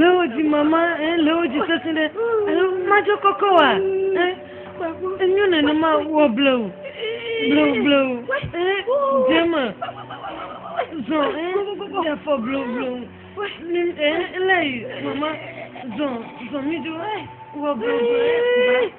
Le wo dzi mama, eh, le wo dzi sesẽ ɖe. Alo madzɔ kɔkɔ wa, eh, enyo nenema wɔ blewu, blewu, blewu, eh, dze me, zɔ, eh, ɖe afɔ blewu, blewu, mi, eh, lé yi, mama, zɔ, zɔ mi do, eh, wɔ blewu, blewu, eh, ba.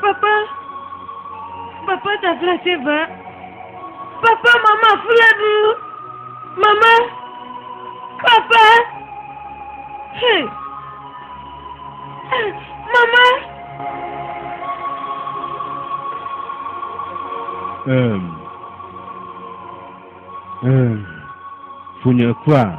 Papa, papa tafla tse va. Papa mama fla ɖu. Mama, papa. Hey. Mama. Um. Um. Funye kwa.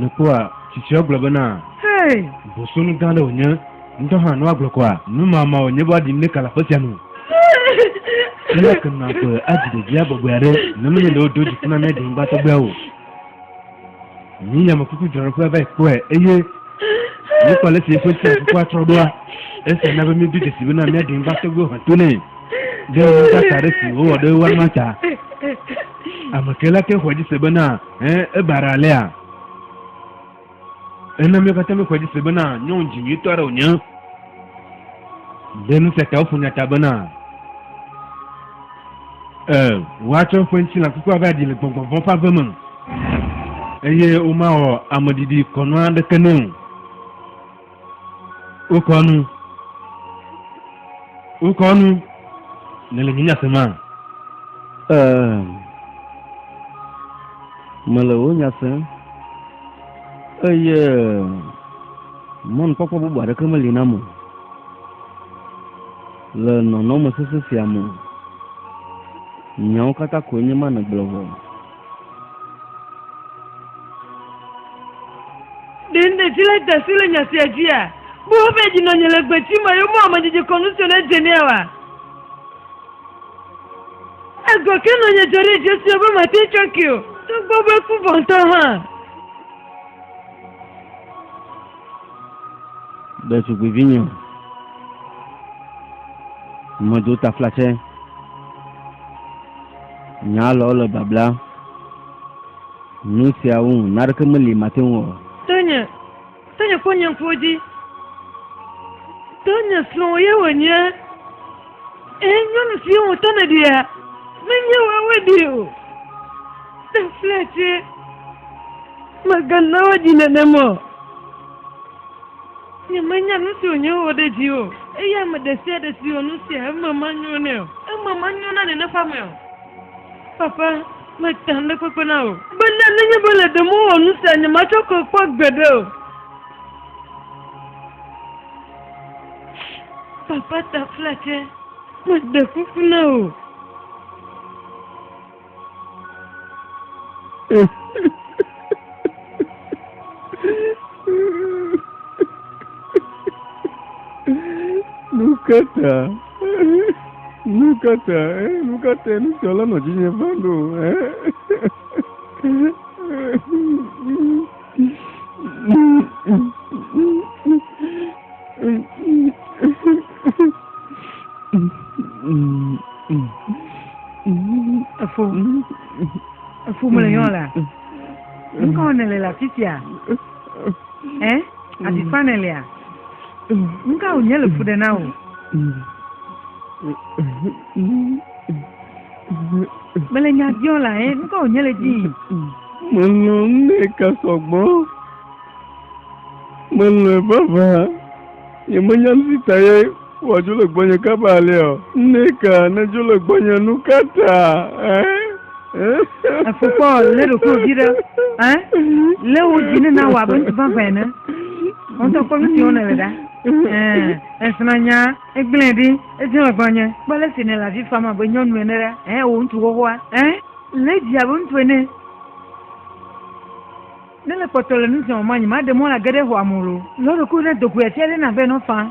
Nukpɔa, tsitsia gblɔ bena, Bosonu gã aɖe wònye. Ŋutɔ hã ne woagblɔ kɔa, numama wònye be woaɖim ɖe ka le aƒe sia nu. Aleke nàgblɔe adzi ɖevia bɔbɔe aɖe ne menye ɖe woɖo dziku na mía ɖenyigbatɔgbeawo o? Yi yamefuku dzrɔɖoƒea va yi kpɔe eye wokpɔ ale si eƒe tsiafukua trɔ ɖoa. Esia na be míedo dzesi bena míaɖi ŋgba tɔgbe aʋã to nɛ ɖe nudaka aɖe si wòwɔ ɖe wo amea ta. Ame kae la te ŋu xɔe dzi se bena ẽ ebara alea? Ena míawo katã míexɔe dzi se bena nyɔnu dzi nyuitɔ aɖe wònye. Ɖe nu sia ta woƒo nya ta bena. Ẽ, woatsɔ eƒe ŋutilã kukua va ɖi le gbɔgbɔ vɔ̃ ƒe ave me, eye womawɔ ameɖiɖi kɔnu aɖeke nɛ o. Wokɔ nu. Wokɔ nu. Nèle nye nya sema? Ẽ, mele wò nya sem, eye mɔnukpɔkpɔ bubu aɖeke meli nam o. Le nɔnɔme sesẽ sia me, nyawo katã koe nye ma nègblɔ vɔ. Ɖe nèti le ta si le nya sia dzia? Bu eƒe dzinɔnye le gbeti me eye mewɔ amedzedze kɔnu siwo nedze nɛ oa? Egbɔ ke nɔnye dzɔ ɖe edzi sue be mate ŋu atsɔ ke o, togbɔ be eku vɔ ŋutɔ hã. ɖetugbuivinye o. Medo taflatsɛ. Nya lɔwo le babla. Nu siawo ŋu naɖeke meli mate ŋu wɔ. To nye, to nye fonyeƒo dzi. To nye srɔ̃wò ye wònye. Ee, nyɔnu siwo wò ta nèɖia, menye woawoe ɖee o. Ne fia tse, mègana woadzi nenem o. Nyemenya nu si wònye wowɔ ɖe dzi o, eye ame ɖe sia ɖe si wɔ nu sia, eme manyo nɛ o. Eme manyo na neneƒamea o. Papa, meta ŋɖekpekpe na wò. Bena nenye be le ɖem wowɔ nu sia, nyematsɔ ke kpɔ gbeɖe o. Papa Taflatse, meɖe kuku na wò. Nu ka ta? Nu ka ta? Nu ka ta nusrɔ̃la nɔ dzinye va ɖo? Efo. Efo me le yɔn la. Ŋkɔ ne le la titia. Ɛ? Ati fa ne le a. Ŋkɔ nye le fu de na o. Mele nya biɔ la ɛ, nukɔ wònye le dzi. Melɔ nɛ ka sɔgbɔ. Melɔe vavã. Yemenya nu si ta ye wòadzo le gbɔnye kaba alea o. Nɛ ka nedzo le gbɔnye nu ka ta? Efukpɔ lé ɖokuiwò dzi ɖe. Lé wò dzi ne nawɔ abe ŋutifafɛ ene. Ŋutɔ kpɔ nu si wonɔ le ɖa. Esrɔ̃nya. Egblẽe ɖi, edze megbe nye. Kpɔ ale si nèle avi fam abe nyɔnu ene ɖa. Ɛ̃, wò ŋutsu xoxoa, ɛ̃, le edzi abe ŋutsu ene. Ne le kpɔtɔ le nu sia wɔm anyi, maɖe mɔ age ɖe xɔa me o. Lɔ̃ ɖokuiwò ne do goe afia ɖe na be nɔfa.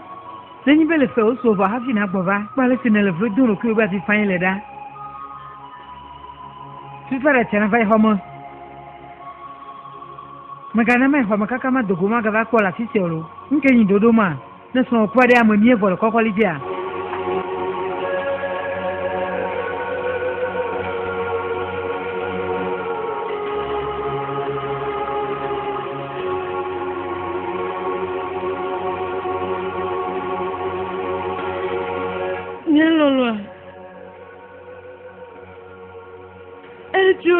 Nenye be le fea wosu o vɔ hafi nàgbɔ va. Kpɔ ale si nèle vlo dom ɖokuiwò be avi fãe le ɖa. Fi fa ɖa tsia nava yi xɔ me. Mègana mayi xɔa me kaka mado go magava kpɔ le afi sia o. Ŋke nyi ɖoɖo ma? Ne srɔ̃wò kpɔe ɖe ame mie vɔ le kɔkɔli dzea? Nye lɔlɔ̃a, edzo.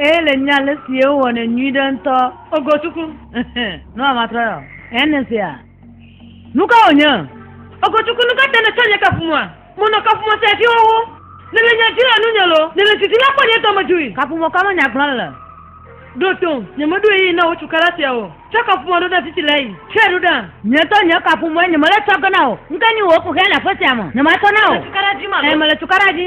Eye le nya le si wowɔ ne nyui ɖe ŋutɔ. Ogotuku. Nu a matrɔ yɔ. Ene sia. Nu ka wònye? Ogotuku nu ka te nètsɔ nye kafumɔa? Monɔ kafumɔ sia dzi xoxo. Nèle nya dzi le nunye lo. Nèle didi la kpɔ nye dɔmedzoe. Kafumɔ ka me nya gblɔm le? Ɖo tom. Nyemeɖo ɣeyiɣi na wò cukaɖa sia o. Tsɔ kafumɔ ɖo ɖa vivi le eyi. Tsɔe ɖo ɖa. Nye ŋutɔ nye kafumɔe nyemele tsɔ ge na wò. Ŋke nyi wò kuxia le aƒe sia me. Nyematsɔ na wò. Mele cukaɖa dzi ma lo. Ẽ, mele cukaɖa dzi.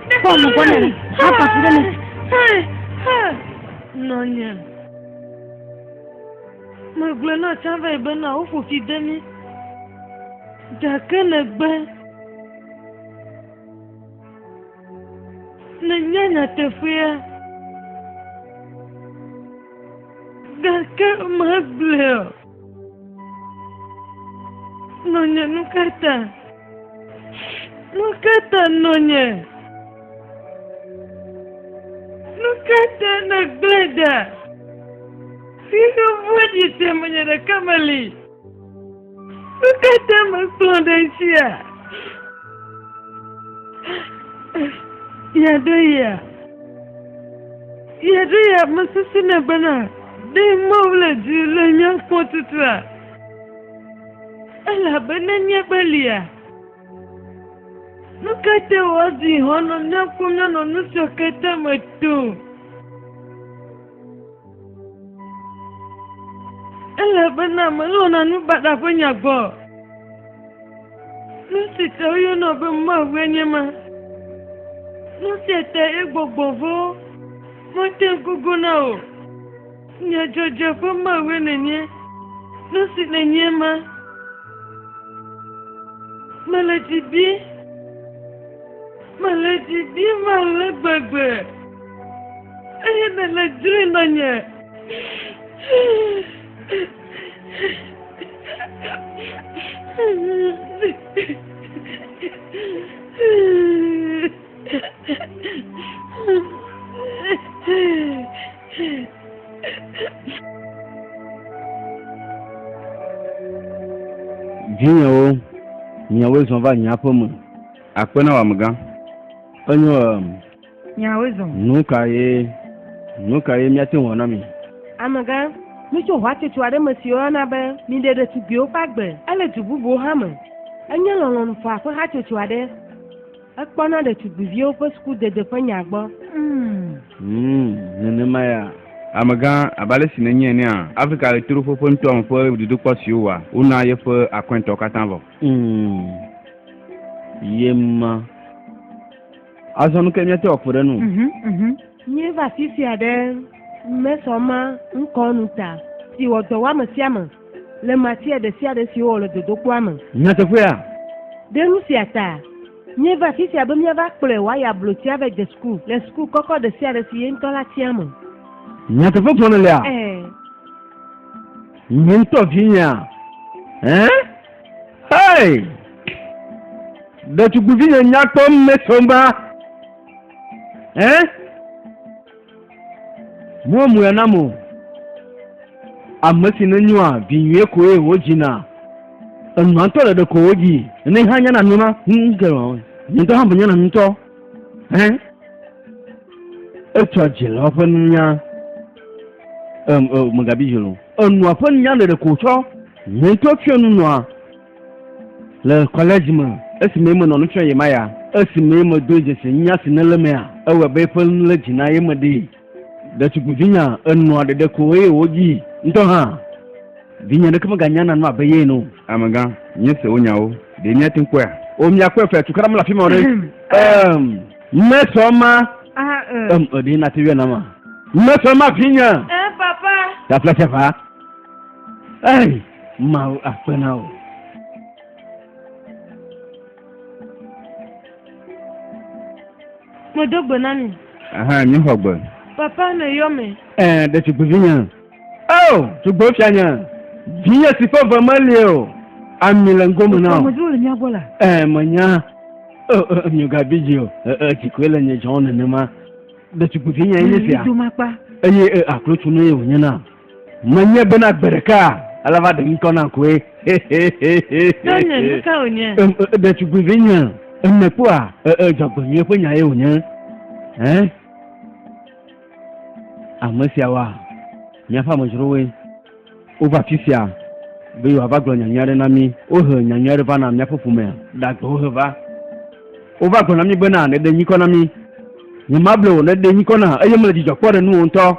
Pɔlu gbɔna ni, hapa fi ɖe mi. Nɔnye. Megblɔ na Tsavai bena woƒo fi de mi. Gake negbe. Nenye nyateƒea. Gake megblɔ. Nɔnye, nu ka ta? Nu ka ta nɔnye? Nu ka ta nègblẽ ɖa? Si nu vɔ̃ɖi te menye ɖeka meli. Nu ka ta mekplɔ ɖe esia? Yeaɖo ya. Yeaɖo ya mesesẽna bena. Ɖe Mawu le dzi le nye kpɔtutua? Elabena míaƒe lia. Nu ka te wòadi hɔ̃ nɔ míaƒo míanɔ nu siwo katã me tom? Elabena melɔ̃na nu baɖa ƒe nya gbɔ. Nu si ta woyɔna be Mawue nye ma. Nu sia ta egbɔgbɔ vɔ mate ŋu na o. Nye dzɔdzɔ ƒe Mawue nènye. Nu si nènye ma. Mele dzi bi. Mele dzi bi ma le gbegbe. Eye nèle dzri nɔ nye. Vinyewo, miawoe zɔ va nye aƒe me. Akpe na wò amegã. Enyo. Nyawoe zɔ. Nu ka ye? Nu ka ye míate ŋu ana mi? Amegã, mitso hatsotso aɖe me si woyɔna be Miɖe Ɖetugbiwo Ƒe Agbe. Ele du bubuwo hã me. Enye Lɔlɔ̃nu Faa ƒe hatsotso aɖe. Ekpɔna ɖetugbiviwo ƒe sukudede ƒe nya gbɔ. Mmm, nenema ya. Amegã, abe ale si nènyae enea, Afrika Ɣetoɖoƒe ƒe nutoa me ƒe dodokpɔ siwo wòwɔa, wona yeƒe akɔintɔ katã vɔ. Mmm, ye ma. Azɔ nu ke míate wɔ kpe ɖe nu. Mhm, mhm. Míeva afi sia ɖe mesɔma ŋkɔ nu ta si wɔ dɔ wɔ ame sia ame le matia ɖe sia ɖe si wowɔ le dodokpɔa me. Nyateƒea. Ɖe nu sia ta míeva afi sia be míava kplɔe wòayi ablotia vɛ de suku le suku kɔkɔ ɖe sia ɖe si ye ŋutɔ la tia me. Nyateƒe gblɔ ne lea. Ɛɛ. Nye ŋutɔ vinyea. Ɛɛ. Hey! Ɖetugbuivi nye nyakpɔ mesomba. Eh? Mo mu ya namo. Ame si ne nyɔa vinyuie koe wo dzina. Enuantɔ ɖeɖe ko wo dzi. Ne hã nyana nuna. Hm, ke wa. Nyentɔ hã be nyana nutɔ. Hẽ, etsɔ dzilawo ƒe nunya, em, em, mègabi dzi o. Enua ƒe nunya ɖeɖe ko tsɔ hiãtɔ fiɔ nu nɔa le kɔlɛdzi me. Esime menɔ nu fiɔ ye ma ya, esime medoe dzesi nunya si nele emea, ewɔe be eƒe nu lé dzi na ye meɖee. Ɖetugbivinya enɔa ɖeɖe ko eye wodzi ŋutɔ hã. Vinye ɖeke meganya nane abe ye ene o. Amegã, míese wò nyawo. Ɖe míate ŋu kpɔea? O, míakpɔe fea. Tukaɖa mele afi ma o ɖe? Em. Mesɔ ema. Aha, e. Em, e, ɖe nate yɔe nam a? Mesɔ ema, vinye. E, papa. Tafla sia va. Ei, Mawu akpe na wò. Medo gbe na mi. Aha, mi xɔ gbe. Papa ne yɔ me. Ɛɛ, ɖe tugbuvi nya. Eo, tugbo fia nya. Vinye si ƒe ve meli o. Ami le ŋgo me na o. Medzo le mia gbɔ la. Ɛɛ, menya. Eo, eo, mi gabi dzi o. Ɛɛ, dzi koe le nye dzɔn nenema. Ɖe tugbuvi nya enye sia. Eyi aklo tunu ye wònye na. Menye bena gbe ɖeka ele va ɖe ŋkɔ na koe. Tɔnye, nu ka wònye? Ɖetugbuivi nye, nèkpɔa dzɔgbenyui ƒe nyae wònye. Ame siawoa, míaƒe amedzrowoe. Wova afi sia be yewoava gblɔ nya nyui aɖe na mí. Wohe nya nyui aɖe va na míaƒe ƒomea, ɖagbe wohe va. Wova gblɔ na mí bena, Nèɖe nyikɔ na mí. Nyemable wò, nèɖe nyikɔ nam, eye mele dzidzɔ kpɔm ɖe nuwò ŋutɔ.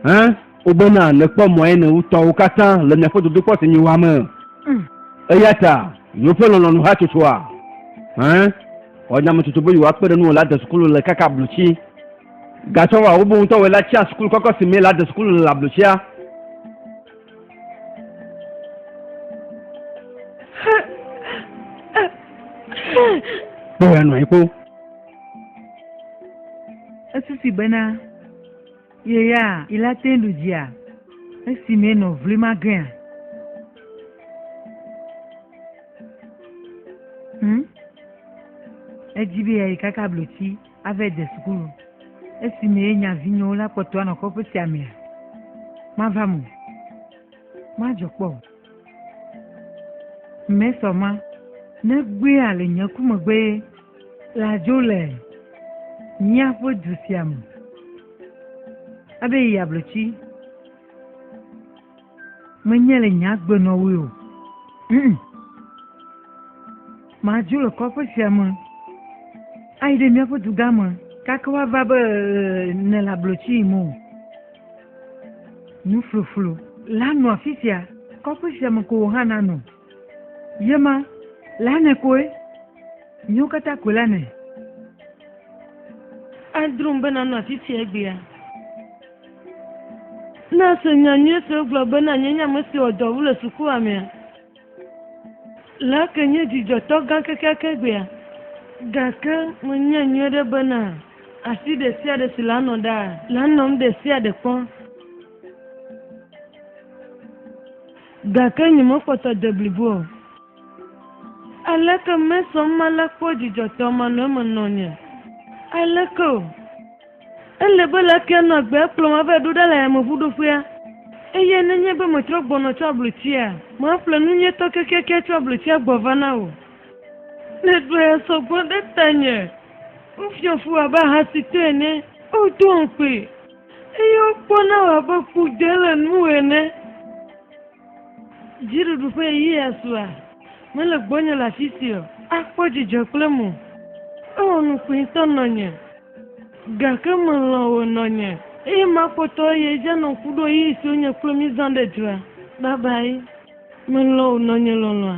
Hã wobena nèkpɔ mɔe ne wotɔwo katã le miaƒe dodokpɔ si nyiwoa me. Mm. Eya ta, yewoƒe lɔlɔ̃nu hatsotsoa. Hã wɔ nyametsotso be yewoakpe ɖe nuwɔla desukulu le kaka ablotsi. Gatsɔ wɔ wobe ŋutɔ wɔe la tsia sukulu kɔkɔ si mee la desukulu le le ablotsia. Kpɔe anɔ anyi kpɔ. Esusi bena. Ye ya ila te ɖu dzia esi me nɔ vli ma gea? Hmm? Edzi be yayi kaka blotsi ave de sukulu. Esi me ye nya vinyewo la kpɔtɔ anɔ kɔƒe sia mea? Mava mo. Madzɔ kpɔ. Mɛ sɔ ma, ne gbea le nye ku megbe ye, la dzo le míaƒe du sia me. Abe yi ablotsi. Menye le nye agbenɔwoe o. Mm. Madzo le kɔƒe sia me ayi ɖe míaƒe dugã me gake woava be nèle ablotsi yim o. Nufluflu la nɔ afi sia, kɔƒe sia me ko wò hã nanɔ. Ye ma, la nɛ koe, míwo katã koe la nɛ. Adrom be nanɔ afi sia egbea. Ne èse nya nyui si wogblɔ bena nyee nye ame si wɔ dɔwòwu le sukuamea, Le eke nye dzidzɔtɔ gã kekeake gbea, gake menyae nyuiɖe bena asi ɖesiaɖe si lanɔ ɖaa, lanɔm ɖesiaɖe kpɔ. Gake nyemekpɔtɔ de blibo o. Aleke Mason malé kpɔ dzidzɔtɔ manɔemenɔnye? Aleke o. Ele be leke nɔ agbea kplɔm ava ɖo ɖa le yameʋuɖoƒea? Eye nenye be metrɔ gbɔnɔ tso ablotsia? Maƒle nunyuitɔ kekeake tso ablotsia gbɔ va na wò. Nèɖoe sɔ gbɔ ɖe tanye. Wofiɔ fu wò abe ahasitɔ ene. Wodoa ŋukpee, eye wokpɔna wò abe kpodɔe le nuwò ene. Dziɖuɖu ƒe ɣeyiɣia sua, mele gbɔnye le afi si o. Akpɔ dzidzɔ kple mo. Ewɔ nu kpuie tɔ nɔnye. Gake melɔ̃ wò nɔnye. Eye makpɔtɔ eye edze anɔ ŋku ɖo ɣeyiɣi si wonye kple mí zã ɖe dzroa. Babayi. Melɔ̃ wò nɔnye lɔlɔ̃a.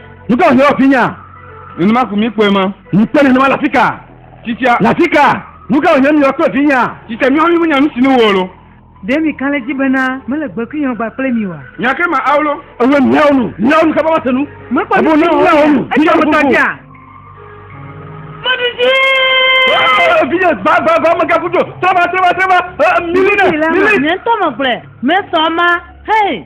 Nu ka wòhiã wò vinya? Nenema ko mi kpɔe ma. Mi kpɔe nenema le afi ka? Tsitsia. Le afi ka? Nu ka wòhiã mi wòakpɔe vinya? Tsitsia, míawo mímenya nu si nu wòwɔ lo. Ɖe mi ka le dzi bena mele gbe kuyɔɔ gba kple mi oa? Nya ke ma ao lo. Ewe miawo nu. Miawo nu kaba wase nu. Mekpɔ nu si wòwɔ nu. Etsɔ ŋutɔ dzia. Meɖu dzi. Vinye gba gba gba megaku dzo. Trɔba trɔba trɔba. Milina milina. Nye ŋutɔ megblɔe. Mesɔ ma. Hei.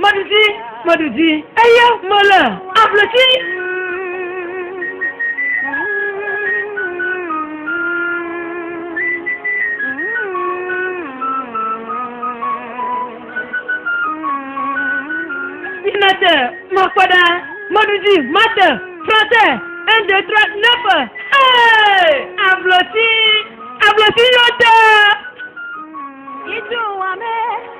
Meɖu dzi, meɖu dzi, eye mele ablotsi. Minate, makpɔ ɖa, meɖu dzi, mate, trɔte, un, deux, trois, neuf, hey! ablotsi, ablotsi yɔ te. Idu wame.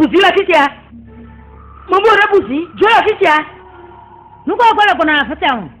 buzi le afi sia mɔmu ɖe buzi dzo le afi sia nukɔ gbɔ le gbɔna afi sia o.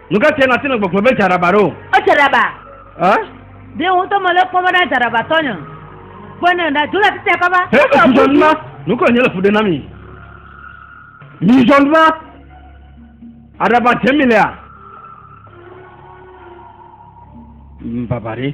Nu ka tae nàte ŋu agbɔgblɔ be dzaraba ɖo? Edzaraba. Ɛ? Ɖe wò ŋutɔ mèle kpɔm be na dzaraba tɔnye o. Kpɔe ne ɖa dzro le afi sia kɔ va. Hɛ le fudzɔn ma. Nu kae nye le fu ɖe na mi? Mi zɔn va. Aɖaba dze mi lea? Baba ɖe.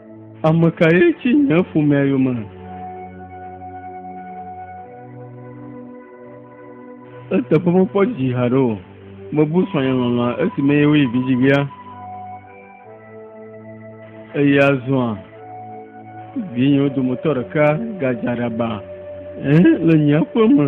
Ame kae tsi nye ƒomea yome? Eteƒe mekpɔ dzi haɖe o. Mebu srɔ̃nye lɔlɔ̃a esime ye woyi vidzigbea. Eye azɔa, vinyewo dometɔ ɖeka gadze aɖaba le nye aƒe me.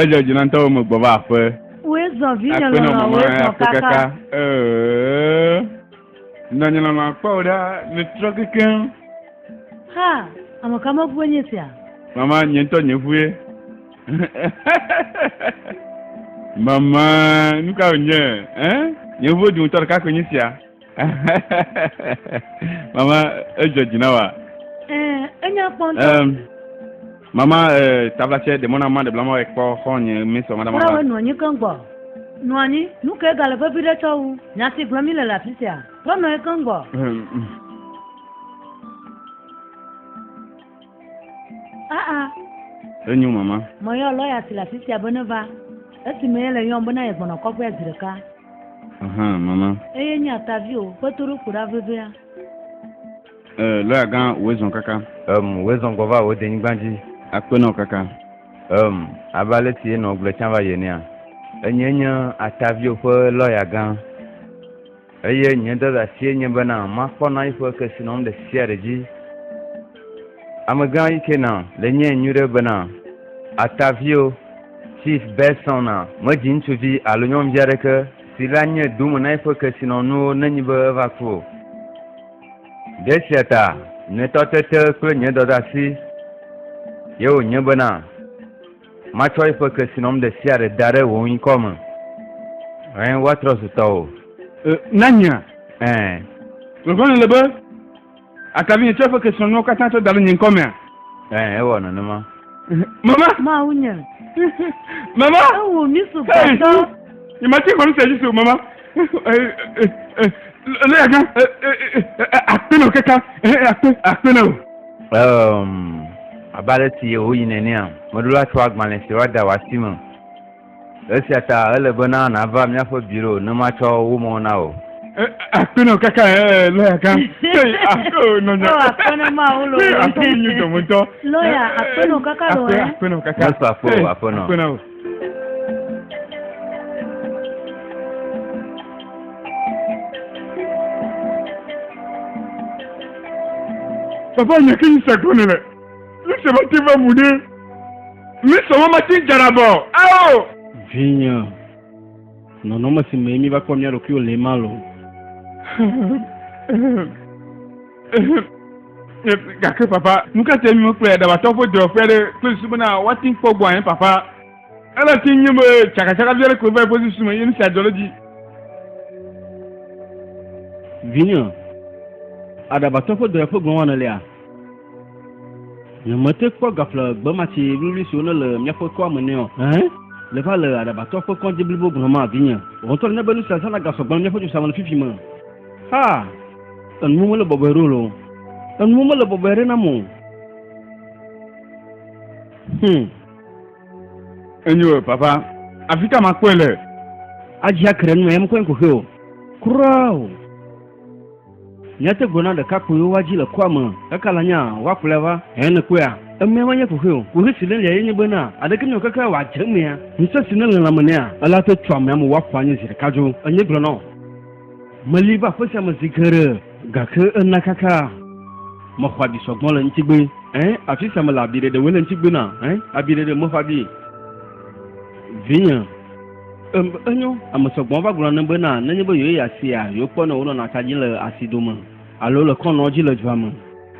Edzɔ dzi na ŋutɔwo me gbɔ va aƒe. Woe zɔ vinye lɔlɔ woe zɔ kaka. Nɔnye lɔlɔ akpɔ ɖa ne trɔ keke. Ha, ame ka me ŋue nye sia? Mama, nye ŋutɔ nye ŋue. Mama, nu ka wònye? Nye ŋue dometɔ ɖeka koe nye sia. mama edzɔ dzi na wa. Eh, enya kpɔ ŋutɔ. Um, mama eh, tablatsɛ ɖe mɔna ma ɖe blama wɔ kpɔ xɔ nye misɔ ma ɖe ma. Wura wɔ nɔ anyi keŋ gbɔ. Nɔ anyi nu ke gale vevi ɖe tsɔ wu. Nyasi gblɔ mi le le afi sia. Trɔ nɔ anyi keŋ gbɔ. Um, um. Aa. Enyo mama. Meyɔ lɔya si le afi sia be neva. Esime yele yɔm bena yegbɔnɔ kɔƒea zi ɖeka. Aha, mama. Eye nye atavi o, kpetoɖoƒo ɖa vevia. E, lɔya gã wòezɔn kaka. Em, wòezɔn gbɔ va wò denyigba dzi. Akpenɔ kaka. Em, abe ale si enɔ gblɔe tsã va yi enea. Enyee nye atavio ƒe lɔya gã. Eye nye dadasie nye bena makpɔ na eƒe kesinɔnu ɖesiaɖe dzi. Amegã Ikena le nyee nyuiɖe bena Atavio, Chief Berson a medzi ŋutsuvi alo nyɔnuvi aɖeke si le anye dome na eƒe kesinɔnuwo nenyi be eva ku o. Ɖe esia ta nye tɔtete kple nye dɔdasi ye wònye bena. Matsɔ eƒe kesinɔm ɖe sia ɖe da ɖe wò ŋkɔ me. Ẽ, woatrɔ zu tɔwò. Ẽ, na nyea? Ẽ. Vevie nèle be àka vinye tsɔ eƒe kesinɔnuwo katã tsɔ da ɖe nye ŋkɔ mea? Ẽ, ewɔ nenema. Mama! Mawunye! Mama! Ewum mi sugbɔtɔ! Hey! Nyemate ŋu ase dzi se o, Mama! Lé aga akpe na kaka akpe akpe na o. Abe ale si yewoyi nenea, meɖo la tsɔ agbalẽ si woada wò asi me. Esia ta ele bena nàva míaƒe biro ne matsɔ wo me na wò. Akpe na kaka lɔya gã. Nɔnya. Akpe na ma wo lɔ. Akpe nyi dɔmetɔ. Lɔya akpe na kaka lɔ. Akpe na kaka. Akpe na kaka. Akpe na o. Papa nya ke yi sakɔ ne le. Mi se ma te va mu ne. Mi se ma ma te jara bɔ. Ao. Vinya. Nɔnɔme si me mi va kpɔ mia ɖokuiwo le ma lo. gake papa nu ka te mi kple ɖabatɔ ƒe dɔwɔƒe aɖe kple susu bena woate ŋu kpɔ gbɔ anyi papa ele te nye be tsakatsaka vi aɖe koe va eƒe susu me ye nu sia dzɔ ɖe dzi vinye aɖabatɔ ƒe dɔwɔƒe gɔ̃ wɔna lia nyemete kpɔ gaƒle gbematsi wluwlui siwo ne le míaƒe toa me nɛ o ɛhɛn le va le aɖabatɔ ƒe kɔdzi blibo gblɔma vinye wɔntɔ ne be nu sia zãna gasɔ gbɔ le míaƒe dzosame le fifi me Ha! Enuwo mele bɔbɔe ɖo lo. Enuwo mele bɔbɔe ɖe nam o. Hmm. Enyo, papa. Afi ka makpɔe le? Adzi akre nu em kɔe koxe o. Kura o. Míate gblɔ na ɖekakpuiwo woadzi le kɔa me kaka la nya woakplɔe va. Eye nèkpɔea, emea menye koxe o. Koxe si nelia ye nye bena aɖeke mewɔ keke wòadze emea, ŋusẽ si nele lãme nɛa, ele ate tso amea me wòaƒu anyi zi ɖeka dzo. Enye gblɔ na wò. Meli va aƒe sia me zi geɖe, gake ena kaka. Mexɔ abi sɔgbɔ le ŋutigbe. Ẽ, afi sia mele abi ɖeɖewoe le ŋutigbe na. Ẽ, abi ɖeɖe mexɔ abi. Vinye, ẽ, enyo, ame sɔgbɔ va gblɔna nam bena nenye be yewoyi asia, yewokpɔ ne wonɔna ta dzi le asi dome alo le kɔnɔ dzi le dua me.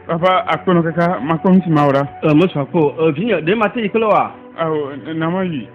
Vava akpɔnɔ kaka makpɔ nu si mawɔ ɖa. Ẽ, mesua kpɔ o. Ẽ, vinye, ɖe mate yi kple woa? Ao, na mayi.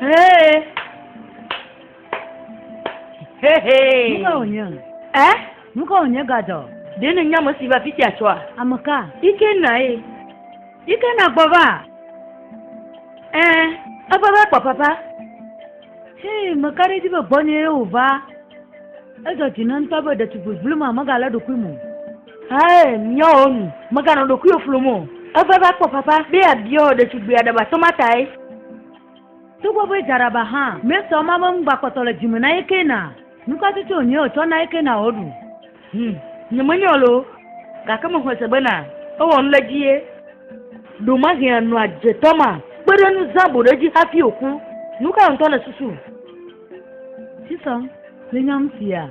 Hey. Hey, hey. Nuka wònye? Ɛ? Nuka wònye gadzɔ? Ɖe ne nyame si va fisia tsɔa? Ame ka? Ike na ye. Ike na gbɔ va. Ɛ, eva va kpɔ papa. Hei, meka ɖe dzi be gbɔnye ye wòva. Edzɔ dzi ne ŋutɔ be ɖetugbui vlima megalé ɖokui mo. Hãe nyɔwo nu. Mèganɔ ɖokuiwò flum o. Eva va kpɔ fafa be yeabiɔ ɖetugbui aɖe ba tɔma tae. Togbɔ be dza ɖaba hã, míesɔ ema be ŋugbakpɔtɔ le dzi me na ye kena. Nu ka tsotso wònye wòtsɔ na ye kena wòɖu? Hum, nyemenyɔ loo, gake mexɔe se bena ewɔ nu ɖe edzi ye. Ɖo mahee anɔ adze tɔma kpe ɖe nu zã boɖe dzi hafi wòku. Nu kae ŋutɔ nèsusu? Sisɔm le nya ŋutia?